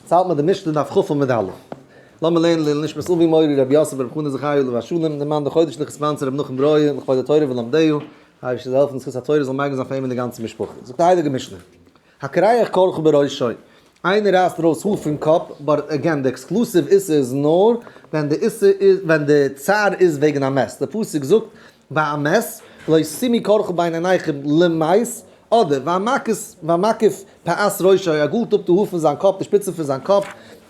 צייט מיט די משנה דף כ עמוד א'. לאמיר לערנען לעילוי נשמת אבי מורי רבי יוסף בן רבי חנא זכרי' עליו השלום, דערמאנט די חודש לכ' ספענסער רבי נחום ברויער לכבוד התורה ולומדיה, אייבישטער זאל העלפן די זכות התורה זאל מגין זיין פאר אים און די גאנצע משפחה. זאגט די הייליגע משנה. הקריח קרחו בראשו, איינער רייסט ארויס האר פון קאפ, באט עגעין די עקסקלוסיוו איסור איז נאר ווען די איסור איז, ווען די צער איז וועגן א מת, די פסוק זאגט ביי א מת לא שימי קרחו בין עיניכם למות, אדער והמקיף פאת ראשו, ער גאלט אפ די האר פון זיין קאפ, די שפיצן פון זיין קאפ,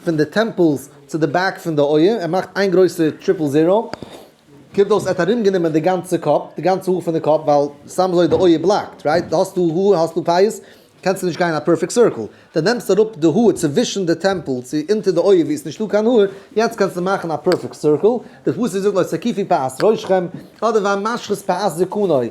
פון די טעמפעלס צו די בעק פון די אויער, ער מאכט איין גרויסע טריפל זירא, קומט אויס ער האט ארום גענומען די גאנצע קאפ, די גאנצע האר פון די קאפ, ווייל סתם אזוי די אויער בלאקט, רייט, האסטו האר האסטו פאות, קענסטו נישט גיין א פערפעקט סירקל, די נעמסט אראפ די האר צווישן די טעמפעל צו אונטער די אויער ווי עס נישטא קיין האר, יעצט קענסטו מאכן א פערפעקט סירקל, די פסוק זאגט לא תקיפי פאת ראשכם, אדער והמשחית פאת זקנוי,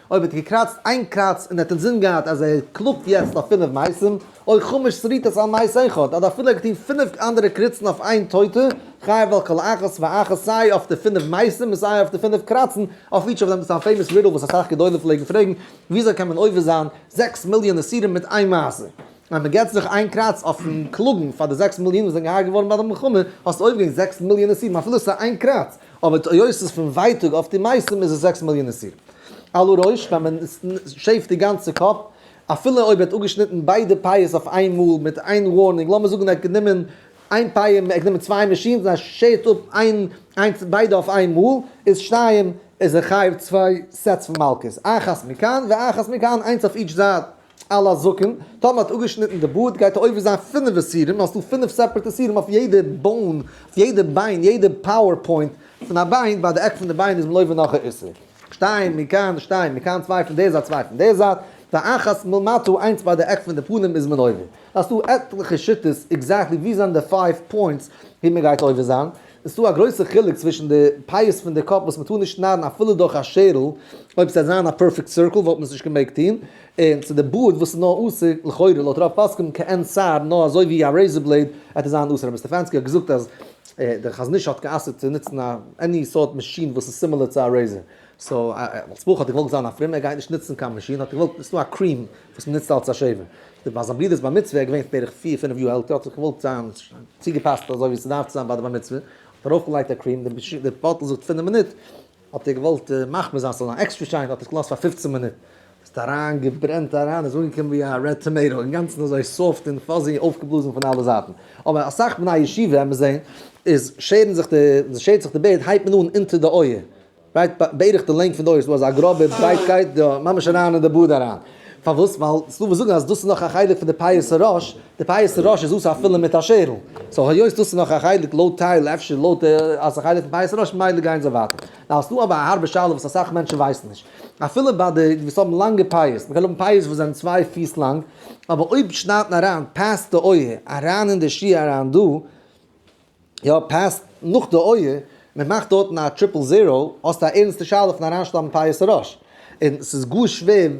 אויב ער האט געקראצט איין קראץ און ער האט אינזין געהאט אז ער קלאגט יעצט אויף פינף מעשים, אוי חמש שריטות על מעש אחד, אדער אפילו ער האט געטון פינף אנדערע קריצן אויף איין טויטע, חייב על כל אחת ואחת סיי אויף די פינף מעשים און סיי אויף די פינף קראצן אויף איטש אוו דעם, דאס איז א פעימאס רידל וואס אסאך גדולים פלעגן פרעגן, וויאזוי קען מען עובר זיין זעקס מיליאן איסורים מיט איין מעשה? אז מען געבט זיך איין קראץ אויפן קלאגן פאר די זעקס מיליאן וואס זענען געהרגעט געווארן ביי די מלחמה, האסטו עובר געגאנגען זעקס מיליאן איסורים אפילו עס איז איין קראץ. אבער די עיות איז פון ווייטאג, אויף די מעשים איז עס זעקס מאל יענע סיר. עלו ראש, ווען מען שעיווט די גאנצע קאפ, אפילו אויב ער האט אפגעשניטן ביידע פייעס אויף איין מאל מיט איין ווארנינג, לאמיר זאגן ער האט גענומען איין פייע, ער האט גענומען צוויי מאשינס און ער שעיווט אפ איין, איינס, ביידע אויף איין מאל, איז שתיים, איז ער חייב צוויי סעטס פון מלקות, אחת מכאן ואחת מכאן, איינס אויף איטש זייט. על הזקן, טאמער האט אפגעשניטן די בארד גייט ער עובר זיין פינף איסורים, האסט דא פינף סעפערעט איסורים אויף יעדע באון, אויף יעדע ביין, יעדע פאוער פוינט פון א ביין, ביי די עק פון די ביין איז מען עובר נאך א איסור. שטיין מכאן שטיין מכאן צוויי פון די זייט צוויי פון די זייט, ואחת מלמטה איינס ביי די עק פון די פנים איז מען עובר. האסט דא עטליכע שיטות עקזעקטלי ווי זענען די פייוו פוינטס ווי מען גייט עובר זיין, עס איז דא א גרויסע חילוק צווישן די פאות פון די קאפ וואס מען טאר נישט שניידן אפילו דורך א שערל, אויב עס וועט זיין א פערפעקט סירקל וואלט מען עס נישט געמעגט טון, און צו די בארד וואס איז נאר אסור לכאורה לויט רוב פוסקים כעין שיער נאר אזוי ווי א רעיזער בלעיד עט עס זיין אסור רבי סטעפאנסקי האט געזאגט אז דער חזון איש האט גע'אסר'ט צו נוצן א עני סארט מאשין וואס איז סימילער צו א רעיזער סאו אלס בחור האט ער געוואלט זיין א פרומער ער גייט נישט נוצן קיין מאשין האט ער געוואלט ניצן א קרים וואס מען נוצט אלס א שעיווער ביי זיין ברידערס בר מצוה ער איז געווען בערך פיר פינעף יאר עלטער האט זיך געוואלט זיין צוגעפאסט אזוי ווי ס'דארף צו זיין ביי די בר מצוה האט ער ארויפגעלייגט א קרים די באטל זאגט פינעף מינוט האט ער געוואלט מחמיר זיין ס'זאל זיין עקסטרע שיין האט ער עס געלאזט פאר פופצן מינוט, ס'האט אריין געברענט אריין איז אנגעקומען ווי א רעד טאמעיטא אינגאנצן אזוי סאפט און פאזי אויפגעבלאזן פון אלע זייטן, אבער אסאך בני הישיבה וועט מען זען איז שערן זיך די ווען שערט זיך די בערד הייבט מען אן אונטער די אויער רייט בערך די לענג פון די אויער ס'דא אזא גראבע ברייטקייט דא ממש אריין אין די בארד אריין פארוואס ווייל ס'דא וואס זאגן אז דאס איז נאך א חלק פון די פיוס הראש די פייעסטע ראש איז אסור אפילו מיט א שערל, סאו היות דאס איז נאך א חלק לויט טייל אפשר לויט אז ס'איז א חלק פון פייעסטע ראש ממילא גייען זיי ווייטער. נאר עס איז דא אבער א הארבע שאלה וואס אסאך מענטשן ווייסן נישט, אפילו ביי די וואס האבן לאנגע פייעס, מ'קען האבן פייעס וואס זענען צוויי פיס לאנג, אבער אויב שניידט מען אריין פאסט די אויער אריין אין די שיך אריין דא, יא פעסט נאך די אויער, מען מאכט דארטן א טריפל זיראו, האסט א ערנסטע שאלה פון אריינשטאבן פייערס אראש, און ס'איז גאר שווער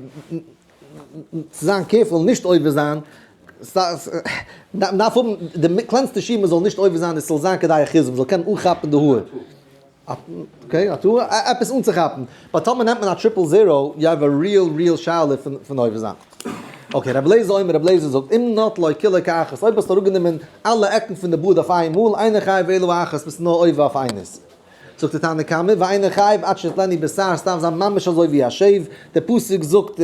צו זיין קערפול און נישט עובר זיין, מען דארף האבן די קלענסטע שיעור מען זאל נישט עובר זיין און ס'זאל זיין כדאי אחיזה מען זאל קענען אנכאפן די האר. אקעי, א טעות, עפעס אנצוכאפן. באט טאמער נעמט מען א טריפל זירא, יו העוו א ריעל ריעל שאלה פון אויבערזאכט. אקעי, רבי אליעזר אומר, רבי אליעזר זאגט, אם נט לוי כולו כאחת, אויב האסטו אראפגענומען אלע עקן פון די בארד אויף איינמאל, אינו חייב ואילו האחת ביסטו נאר עובר אויף איינעס. זאגט דער תנא קמא, ואינו חייב עד שתתלני בשיער, עס דארף זיין ממש אזוי ווי א שעיוו, דער פסוק זאגט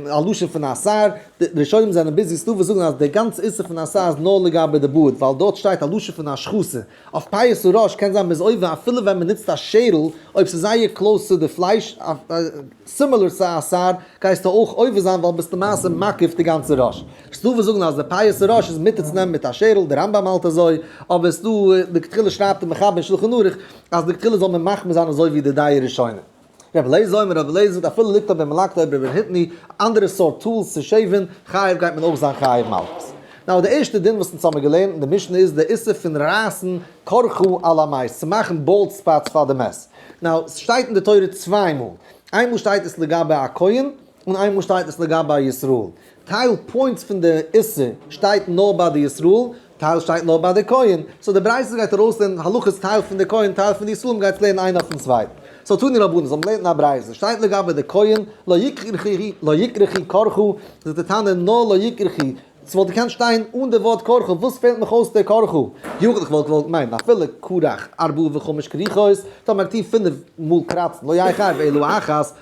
א לשון פון א שיער, די ראשונים זענען ביזי סטאווע זאגן אז דער גאנצע איסור פון א שיער איז נאר לגבי די בארד, ווייל דארט שטייט א לשון פון השחתה. אויף פייעס און ראש קען זיין מזויף ווען אפילו ווען מען נוצט א שערל אויב ס'איז זייער קלאוס צו די פלייש סימילער צו א סאר גייסטו אויך עובר זיין ווייל ביסט למעשה מעכב די גאנצע ראש. ס'דא וואס זאגן אז די פייעס און ראש איז מותר צו נעמען מיט א שערל די רמב ם האלט אזוי אבער ס'דא לכתחילה שרייבט די מחבר אין שלחן ערוך אז לכתחילה זאל מען מחמיר זיין אזוי ווי די דיי ראשונים. רבי אליעזר אומר רבי אליעזר זאגט אפילו ליקט אויף דעם מלקט אויב רבי היטני א אנדערע סארט טולס צו שעיווען חייב גייט מען אויך זיין חייב מלקט. נאו די ערשטע דין וואס אונז האמיר געלערנט אין די משנה איז די איסור פון רייסן קרחו על המעש צו מאכן באלד ספאטס פאר די מעש. נאו סשטייט אין די תורה צוויי מאל איינמאל שטייט עס לגבי א כהן און איינמאל שטייט עס לגבי ישראל, טייל פוינטס פון די איסור שטייט נאר ביי די ישראל, טייל שטייט נאר ביי די כהן, סאו די ברייתא גייט ארויסלערנען הלכות טייל פון די כהן טייל פון די ישראל, מ'גייט עס לערנען איינע אויפן צווייטן. סאו תני רבנן, זאל מען לערנען א ברייתא, שטייט לגבי די כהן, לא יקרחי לא יקרחי קרחו, זאגט די תנא נאר לא יקרחי, ס'וואלט געקענט שטיין אן די ווארט קרחו, וואס פעלט מיך אויס די קרחו, יוכל' איך וואלט געוואלט מיינען אפילו קרח ארבעה וחמש כריכות, טאמער כ'טוה פינף מאל קראצן, לא יחייב אלא אחת,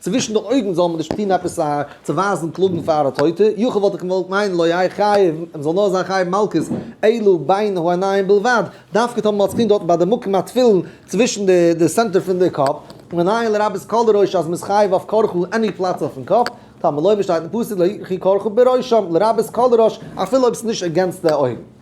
צווישן די אויגן זאל מען נישט טון עפעס א צו ווייזן קלאגן פאר א טויטע, יו כ וואלט איך געוואלט מיין לא יהי' חייב, מען זאל נאר זיין חייב מלקות אלא בין העיניים בלבד, דווקא טאמער מען האט צו טון דארטן ביי די מקום התפילין צווישן די סענטער פון די קאפ, מנין לרבות כל הראש אז מען איז חייב אויף כרכו עני פלאץ אויפן קאפ, טאמער לא ווי שטייט אין פסוק לא יחי כרכו בראשם, לרבות כל הראש אפילו אויב ס'איז נישט עגענסט די אויגן.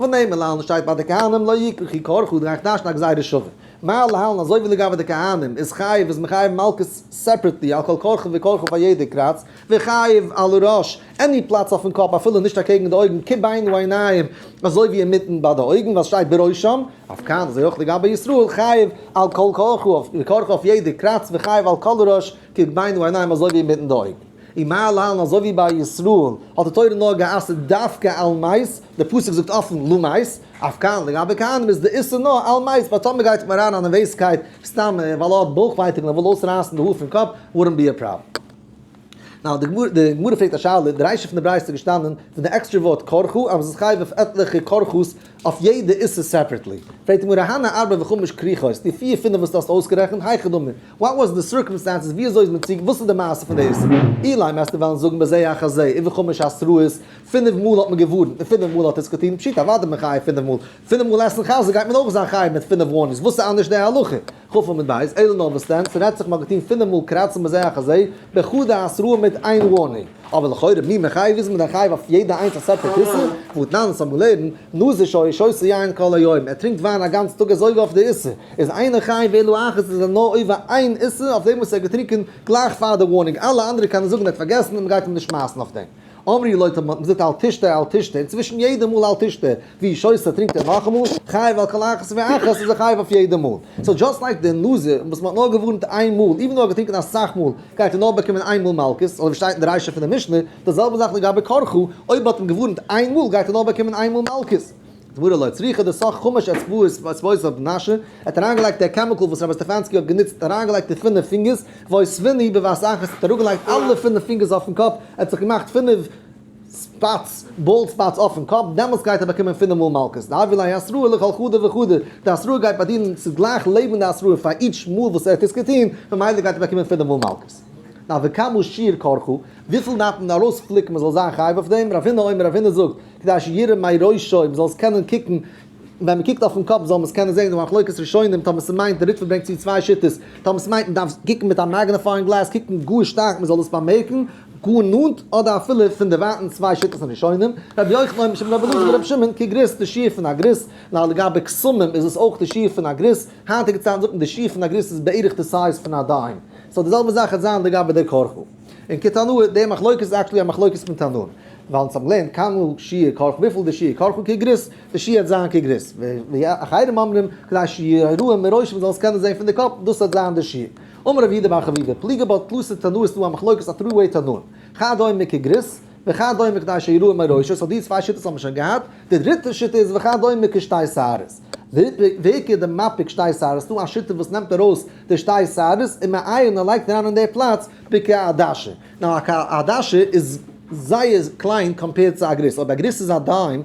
ונאמר להלן שטייט ביי די כהנים לא יקרא כי קרחו דרייכט נישט א גזירה שווה מה להלן אזוי ווי לגבי די כהנים איז חייב איז מחייב מלקות סעפרעטלי על כל קרחו וקרחו פאר יעדע קראץ וחייב על הראש עני פלאץ אויפן קאפ אפילו נישט אקעגן די אויגן כי בין העיניים אזוי ווי אינמיטן ביי די אויגן ווייל סשטייט בראשם אויף כן אזוי אויך לגבי ישראל חייב על כל קרחו וקרחו אויף יעדע קראץ וחייב על כל הראש כי בין העיניים אזוי ווי אינמיטן די אויגן ומה להלן אזוי ווי ביי ישראל האט די תורה נאר גע'אסר'ט דווקא על מייז די פסוק זאגט אפן לא מית, אויף כהנא, לגבי כהנים איז די איסור נאר על מית, באט טאמער מען גייט אריין אין א נערוועזקייט סתם ווייל ער האט בויך ווייטאג און ער וויל אויסרייסן די האר פון קאפ, וואלדנט בי א פראבלעם. נאו, די גמרא פרעגט א שאלה, די ריישא פון די ברייתא איז געשטאנען פון די עקסטרע ווארט כרכו אז מען איז חייב אויף עטליכע כרכות אויף יעדע איסור סעפערעטלי, פרעגט די גמרא הנה ארבע וחמש כריכות, די פיר פינף וואס דו האסט אויסגערעכנט, היכא דמי, וואט וואס די סירקאמסטענסעס, ווי אזוי איז מען צו, וואס איז די מעשה פון די איסור, אילאי מעסטו וועלן זאגן בזה אחר זה, און וחמש עשרות, פינף מאל האט מען געווארנט און פינף מאל האט עס געטון, פשיטא אוודאי איז מען חייב פינף מאל, פינף מאל עסן חזיר גייט מען אויך זיין חייב מיט פינף ווארנינגס, וואס איז אנדערש די הלכה? כ ו מיט ב' אלול נאר וואס דען, ס'רעדט זיך מען האט געטון פינף מאל קראצן בזה אחר זה, בייחוד די עשרה מיט איין ווארנינג, אבער לכאורה מי מחייב איז מען דען חייב אויף יעדע איינס א סעפערעט איסור? ואתנן, ס'האט מ'לערנט, נזיר שוי שותה יין כל היום, ער טרינקט וויין א גאנץ טאג אזוי ווי אויף די איסור, איז איינער חייב ואלו אחת איז ער נאר עובר איין איסור אויף דעם וואס ער האט געטרינקען גלייך פאר די ווארנינג, אלע אנדערע קענען זאגן ער האט פארגעסן און מ'גייט אים נישט שמייסן אויף דעם. אמרי לו, מ'האט געזאגט אל תשתה אל תשתה, און צווישן יעדע מאל אל תשתה, ווי איש עושה טרינקט ער נאכאמאל, חייב על כל אחת ואחת איז ער חייב אויף יעדע מאל. סאו דזשאסט לייק די נזיר וואס מ'האט נאר געווארנט איין מאל, איווען דאו ער האט געטרינקען אסאך מאל, גייט ער נאר באקומען איין מאל מלקות, אזוי ווי שטייט אין די רישא פון די משנה, די זעלבע זאך לגבי קרחו, אויב מ'האט אים געווארנט איין מאל גייט ער נאר באקומען איין מאל מלקות. גמרא לא צריכה די סך חומש אצבעות אצבעות אויף מנשה, ער האט אריינגעלייגט דער קעמיקל וואס רבי סטעפאנסקי האט גענוצט האט אריינגעלייגט אין פינף פינגערס, וואויס וויני בבת אחת האט אראפגעלייגט אלע פינף פינגערס אויפן קאפ, ער האט זיך געמאכט פינף ספאטס באלד ספאטס אויפן קאפ, דעמאלטס גייט ער באקומען פינף מאל מלקות, דהייווי לאי אסרו אלא כל חדה וחדה, די אסרו גייט ביי דין ס'איז גלייך לעבן די אסרו פאר איטש מאל וואס ער האט עס געטון, ממילא גייט ער באקומען פינף מאל מלקות. נה וכמה שיעור כרכו, וויפיל דארף מען ארויספליקן מען זאל זיין חייב אויף דעם, רב הונא אומר רב הונא זאגט, כדי שירא מעי ראשו, מ'זאל עס קענען קוקן, ווען מ'קוקט אויפן קאפ זאל מען עס קענען זען, די מחלוקת ראשונים טאמער ס'מיינט, די ריטבא ברענגט צו צוויי שיטות, טאמער ס'מיינט מ'דארף קוקן מיט א מעגנעפייאינג גלעס, קוקן גאר שטארק מ'זאל דאס באמערקן, גאר נאנט, אדער אפילו פונדערווייטנס צוויי שיטות פון ראשונים, רבי יוחנן אויך משום רבי אלעזר ורבי שמעון, קוק גריס, די שיעור פון א גריס, ניין לגבי קסמים איז עס אויך די שיעור פון א גריס, היינטיגע צייטן זאגט מען די שיעור פון א גריס איז בערך די סייז פון א דיים, סאו די זעלבע זאך העט זיין לגבי דער כרכור. און כתנור, די מחלוקת איז עקטשעלי א מחלוקת פון תנור, ווייל אונז האבן געלערנט קנו שיעור כרכו וויפיל די שיעור כרכו כגריס, די שיעור האט זיין כגריס, ואחרים אומרים כדי שיראו מראש מ'זאל עס קענען זען פון די קאפ, דאס האט זיין די שיעור. אמר רב יהודה בר חביבה, פליגה בו תלוסי תנור ס'דא א מחלוקת א טרי וועי תנור, חד דומה מכגריס, וחד דומה כדי שיראו מראש, סאו די צוויי שיטות האט מען שוין געהאט, די דריטע שיטה איז וחד דומה כשתי שערות. ווערקער די מפיק שתי שערות, ס'דא א שיטה וואס נעמט ארויס די שתי שערות און מעיין און לייגט אריין אין די פלאץ בקע א דשא, נאר א קע א דשא איז זייער קליין קאמפעירד צו א גריס, אויב א גריס איז א דיים,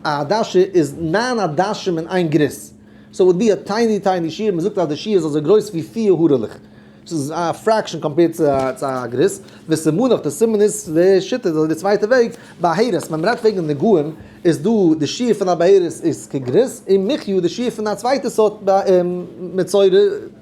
א דשא איז נײַן א דשים אין איין גריס, סאו איט וואלט בי א טייני טייני שיעור, מ'זאגט אז די שיעור איז אזוי גרויס ווי פיר הארעלעך. ס'איז א פרעקשאן קאמפעירד צו א גריס, וסימנא אויף די סימן איז די שיטה די צווייטע וועג, בהערות ווען מ'רעדט וועגן נגעים איז דא די שיעור פון א בהערות איז כגריס און מחיה די שיעור פון א צווייטע סארט מצורע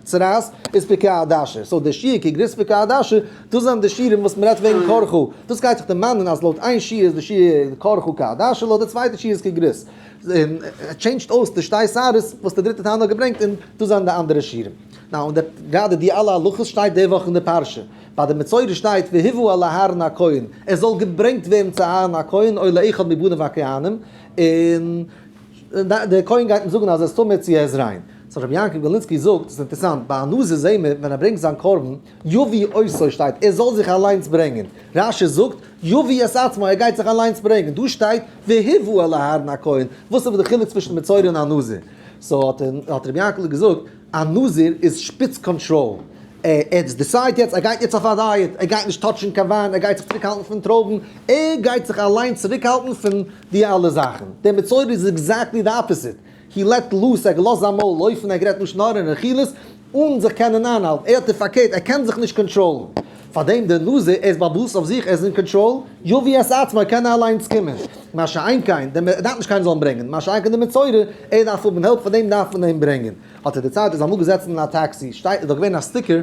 צרעת איז פי כ א דאשר, סאו די שיעור כגריס פי כ א דאשר דאס זענען די שיעורים וואס מ'רעדט וועגן כרכו, דאס גייט זיך דערמאנען אז לויט איין שיעור איז די שיעור כרכו כ א דאשר לויט די צווייטע שיעור איז כגריס, און ער טשעינדזשט אויס די שתי שערות וואס די דריטע תנא האט געברענגט און דאס זענען די אנדערע שיעורים. נאו און דער גאדער די אלע הלכות שטייט די וואך אין די פרשה ביי די מצורע שטייט והיבאו אל אהרן הכהן עס זאל געברענגט ווערן צו אהרן הכהן אוי לאחד מבניו הכהנים און דער כהן גייט אים זאגן אז ער איז טמא צו ער איז ריין סאו רבי יעקב גארליצקי זאגט עס איז אינטערסאנט ביי א נזיר זעהן מיר ווען ער ברענגט זיין קרבן יביא עושו שטייט ער זאל זיך אליינס ברענגען רש ש זאגט יביא את עצמו ער גייט זיך אליינס ברענגען דא שטייט והיבאו אל אהרן הכהן וואס איז די חילוק צווישן מצורע און א נזיר סאו האט רבי יעקב געזאגט א נזיר איז שפיץ קאנטראל, ער האט דיסייד יעצט ער גייט יעצט אויף א דייעט, ער גייט נישט טאטשן קיין וויין, ער גייט זיך צוריק האלטן פון טרויבן, ער גייט זיך אליין צוריק האלטן פון די אלע זאכן. דער מצורע איז עקזעקטלי די אפעסיט, הי לעט לוס, ער האט געלאזט זיין מויל אויפן, ער האט גערעדט לשון הרע און רכילות אן זיך קענען איינהאלטן, ער האט די פארקערט, ער קען זיך נישט קאנטראלן. פארדעם די נאז ער איז באוואוסט אויף זיך ער איז אין קאנטראל, יביא את עצמו קען ער אליינס קומען, מה שאין כן די ער דארף נישט קיינער זאל אים ברענגען, מה שאין כן די מצורע ער דארף האבן העלפ פארדעם דארף מען אים ברענגען, האט ער דערציילט איז אמאל געזעצן אין א טעקסי שטייט איז דאך געווען א סטיקער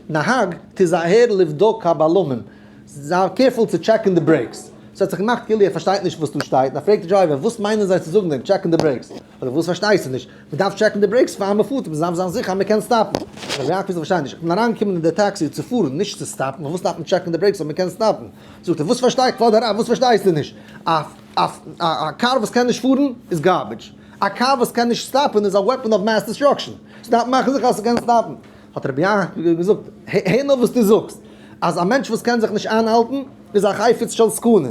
נהג תיזהר לבדוק הבלמים זיי קערפול צו טשעקן די ברעיקס, ס'האט זיך געמאכט כאילו ער פארשטייט נישט וואס דא שטייט, ער פרעגט די דרייווער וואס מיינען זיי צו זאגן דעם טשעקן די ברעיקס? אדער וואס פארשטייסטו נישט? מען דארף טשעקן די ברעיקס פאר מען פארט, מען דארף זיין זיכער אז מען קען סטאפן. ר' יעקב איך פארשטיי נישט, איך בין אריינגעקומען אין די טעקסי צו פארן, נישט צו סטאפן, פארוואס דארף מען טשעקן די ברעיקס אויב מען קען סטאפן? זאגט ער, וואס פארשטיי, כבוד הרב וואס פארשטייסטו נישט? א א קאר וואס קען נישט פארן איז גארבידזש, א קאר וואס קען נישט סטאפן איז א וועפען אוו מעס דיסטראקשען, זי דארף מאכן זיכער אז ס'קען סטאפן. האט ר' יעקב געזאגט, הער נאר וואס דו זאגסט, אז א מענטש וואס קען זיך נישט איינהאלטן איז א חפץ של סכנה,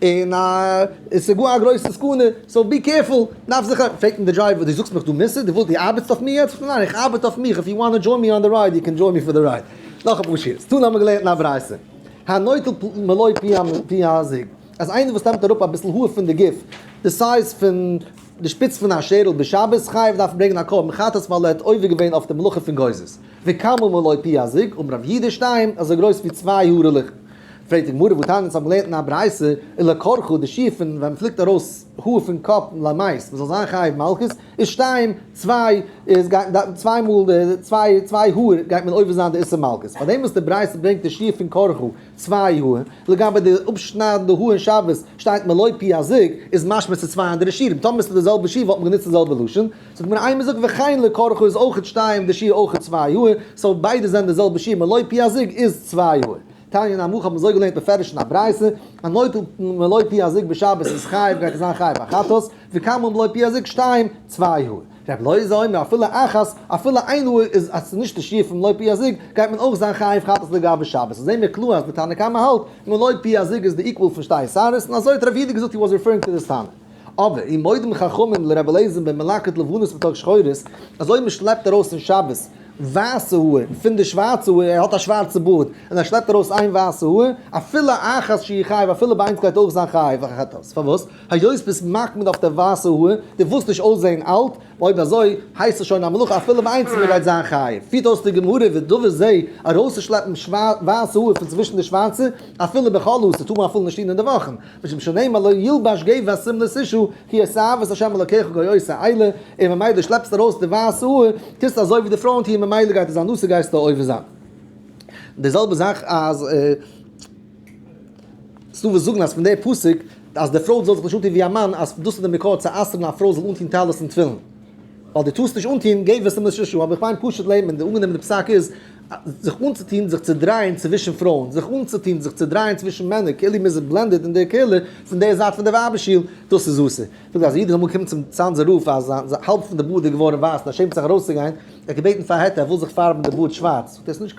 און עס איז גאר א גרויסע סכנה, סאו בי קעירפול, דארף זיך א, פרעגט אים די דרייווער, דו זאגסט מיך דו מוססט, דו ווילסט, דו ארבעטסט אויף מיר יעצט? ניין איך ארבעט אויף מיך, איף יו וואנט טו דזשוין מי אן די רייד, יו קען דזשוין מי פאר די רייד. נאך אפאר שיערס צו האבן מיר געלערנט א ברייתא, הנוטל מלא פי הזיג, אז איינער וואס נעמט אראפ אביסל האר פון די גוף, די סייז פון די שפיץ פון א שערל בשבת, חייב דארף ברענגען א קרבן חטאת ווייל ער האט עובר געווען אויף די מלאכה פון גוזז. וכמה מלא פי הזיג, אמר רב יהודה שטיין, אזוי גרויס ווי צוויי הארעלעך. פרעגט די גמרא, וואו טענה'ט מען? ס'האט מען געלערנט אין א ברייתא, אין לא כרכא, די שיעור פון ווען מ'פליקט ארויס האר פון קאפ למות, מ'זאל זיין חייב מלקות, איז שתיים, צוויי, איז גייט מען צוויי מאל די, צוויי, צוויי האר גייט מען עובר זיין די איסור מלקות. פאר דעם וואס די ברייתא ברענגט די שיעור פון כרכא, צוויי האר, לגבי די אפשניידן די האר אין שבת שטייט מלא פי הזוג, איז משמע ס'איז צוויי אנדערע שיעורים. טאמער ס'איז די זעלבע שיעור וואלט מען גענוצט די זעלבע לשון. זאגט מיר איינער זאגט וכן לא כרכו איז אויכעט שתיים די שיעור אויכעט צוויי יאר, סאו ביידע זענען די זעלבע שיעור מען לויט פי א זיג איז צוויי יאר. תניא נמוך האט מען אזוי געלערנט מפרש אין א ברייתא, א נוטל מען לויט פי א זיג בשבת איז חייב גייט ער זיין חייב א חטאת, וכן מען לויט פי א זיג שתיים צוויי יאר. רב לוי זאל אומר אפילו אחת אפילו איין יאר איז אז ס'איז נישט די שיעור פון לויט פי א זיג גייט מען אויך זיין חייב חטאת לגבי שבת, סאו זעהן מיר קלאר אז די תנא קמא האלט מען לויט פי א זיג איז די איקוואל פון שתיי שערות, און אזוי האט רב יהודה געזאגט הי וואס ריפערינג טו דיס תנא. אבער און מודים חכמים לרבי אליעזר'ן בן מלקט לבנות מתוך שחורות, אז אויב מען שלעפט ארויס אין שבת ווייסע האר פון די שווארצע האר, ער האט א שווארצע בארד, און ער שלעפט ארויס איין ווייסע האר, אפילו אחת שהיא חייב, אפילו ביי איינס גייט אויך זיין חייב א חטאת, פארוואס? היות ביסט מקפיד אויף די ווייסע האר, די ווילסט נישט אויסזעהן אלט, אויב אזוי הייסט עס שוין א מלאכה אפילו ביי איינס מען גייט זיין חייב, פירט אויס די גמרא ודבר זה, ארויסצושלעפן ווייסע האר פון צווישן די שווארצע, אפילו בחול אסור, טאר מען אפילו נישט טון אין די וואכן. משום שנאמר לא ילבש גו' ואסרים לסישו כי עשה אהבת ה' אלקיך גוי אויס א איילע, און ממילא דו שלעפסט ארויס די ווייסע האר, טוסט אזוי ווי די פרויען טוען ממילא גייט עס זיין אסור גייסטו עובר זיין. די זעלבע זאך אז ס'דא וואס זאגן אז פון די פסוק אז די פרוי זאל זיך נישט אנטון ווי א מאן אז דאס איז די מקור צו אסר'ן א פרוי זאל אנטון טלית און תפילין. ווייל דו טארסט נישט אנטוהן געב עס אים לשש שעה, אבער איך מיין פשוט לעבן און די אנגענומענע פסק איז זיך אנצוטוהן זיך צו דרייען צווישן פרויען, זיך אנצוטוהן זיך צו דרייען צווישן מענער כאילו מ'איז בלענדעד אין די קהילה פון די זייט פון די ווייבער שול, דאס איז אסור. זאגט אז א איד איז אמאל געקומען צום צאנזער רב אז זיין האלב פון די בארד איז געווארן ווייס און ער שעמט זיך ארויסצוגיין, ער האט געבעטן פאר א היתר ער וויל זיך פארבן די בארד שווארץ, זאגט ער עס איז נישט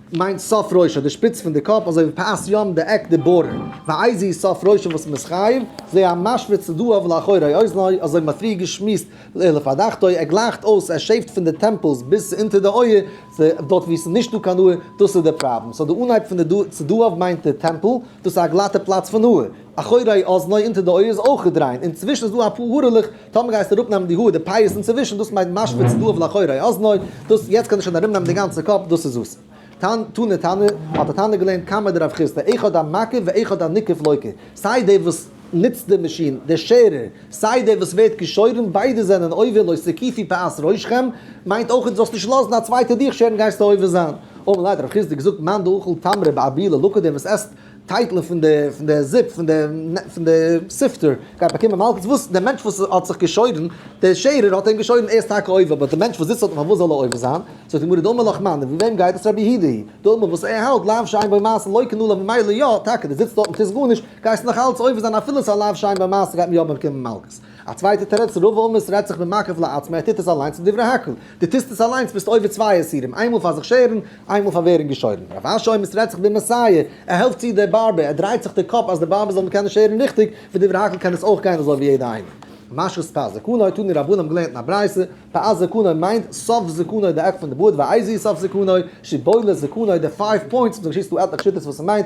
מיינט סוף ראשו די שפיץ פון די קאפ אזוי ווי פאת ים די עק די בארד, ואיזהו סוף ראשו וואס מען איז חייב, זה המשווה צדעיו לאחורי אוזניו אזוי ווי מ'האט פריער געשמועסט לעילא פדחתא, ער גלייכט אויס ער שעיווט פון די טעמפעלס ביז צו אונטער די אויער, צו דארט ווי עס איז נישט דא קיין האר, דאס איז די פראבלעם, סאו די אנהייב פון די צדעיו מיינט די טעמפל, דאס איז א גלאטע פלאץ פון האר. אחורי אזני אונטער די אויער איז אויך געדריינט, אינצווישן איז דא אפאר הארעלעך, טאמער גייסטו אראפ נעמען די האר, די פאות אינצווישן, דאס מיינט משוויץ דאב לאחורי אזני, דאס יעצט קען ער שוין ארום נעמען די גאנצע קאפ, דאס איז וואס. תנא תנא, האט א תנא געלערנט קמא דרב חיסדא, אחד המקיף ואחד הנקיף לוקה, סיי דער וואס נוצט די מאשין, דער שערער, סיי דער וואס ווערט געשוירן, ביידע זענען עובר לא סקיפי פאת ראשכם, מיינט אויך דו זאלסט נישט לאזן א צווייטער דיך שערן גייסטו עובר זיין. אמר ליה דרב חיסדא געזאגט מאן דאוכל תמרי באבילה לוקה, דער וואס עסט טייטלען פון די פון די זופ פון די פון די ספטער גייט באקומען מלקות וואס די מענטש וואס האט זיך געשוירן די שערער האט אים געשוירן ער איז טאקע עובר באט די מענטש וואס זיצט אויף אים פארוואס זאל ער עובר זיין זאגט די גמרא דאמר לך מאן דבי וועם גייט עס רבי הידי הי' דאמר וואס ער האלט לאו שאין בו מעשה לא קנו לו ממילא יא טאקע די זיצט דארט און טוסט גארנישט גייסט נאך אלץ עובר זיין אפילו ס'איז א לאו שאין בו מעשה גייט מען יא באקומען מלקות א צווייטע תירוץ רוב אומות רעדט זיך ממקף לעצמו ער טוט עס אליינס לדברי הקל די טוסט עס אליינס ביסט עובר צוויי איסורים איינמאל פאר זיך שערן איינמאל פאר ווערן געשוירן. רב אשר אויב עס רעדט זיך די מעשיה, ער העלפט צו די בארבער, ער דרייט זיך די קאפ אז די בארבער זאלן קענען שערן ריכטיג, ודברי הכל קען עס אויך גיין אזוי ווי יעדע איינער. משכת פאת זקנו האט אן די רבנים געלערנט אין א ברייתא, פאת זקנו מיינט סוף זקנו די עק פון די בארד, ואיזהו סוף זקנו? שיבולת זקנו די פייוו פוינטס, דא שיסטו עטליכע שיטות וואס ס'מיינט,